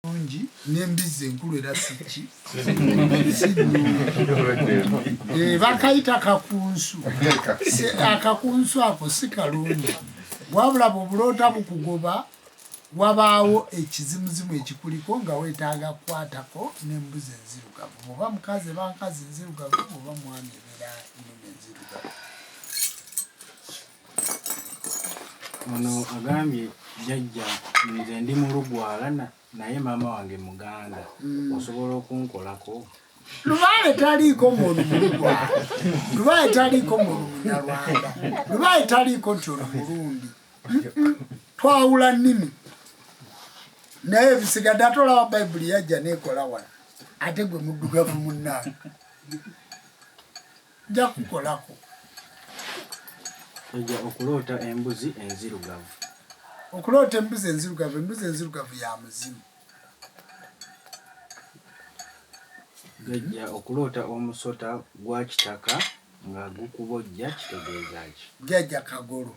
nungi n'embizzi enkulu era siki eh, bakayita kakunsu akakunsu ako si kalungi wabula bwebuloota bukugoba wabaawo ekizimuzimu ekikuliko nga wetaaga kukwatako n'embuzi enzirugavu oba mukazi eba nkazi nzirugavu oba mwami ebeera nnume enzirugavu Ono agambye jajja nze ndi mulugwala naye maama wange muganda mm. osobola okunkolako lubaale taliiko muntu mulugwala lubaale taliiko muntu munyarwanda lubaale taliiko nti ono mulundi twawula nnimi naye ebisigadde ate olaba bayibuli yajja neekola wala ate gwe muddugavu munnaa Nja kukolako. Ojja okuloota embuzi enzirugavu. Okuloota embuzi enzirugavu. Embuzi enzirugavu ya muzimu. Gajja okuloota omusota gwa kitaka nga gukubojja kitegeeza ki? Jjajja Kagolo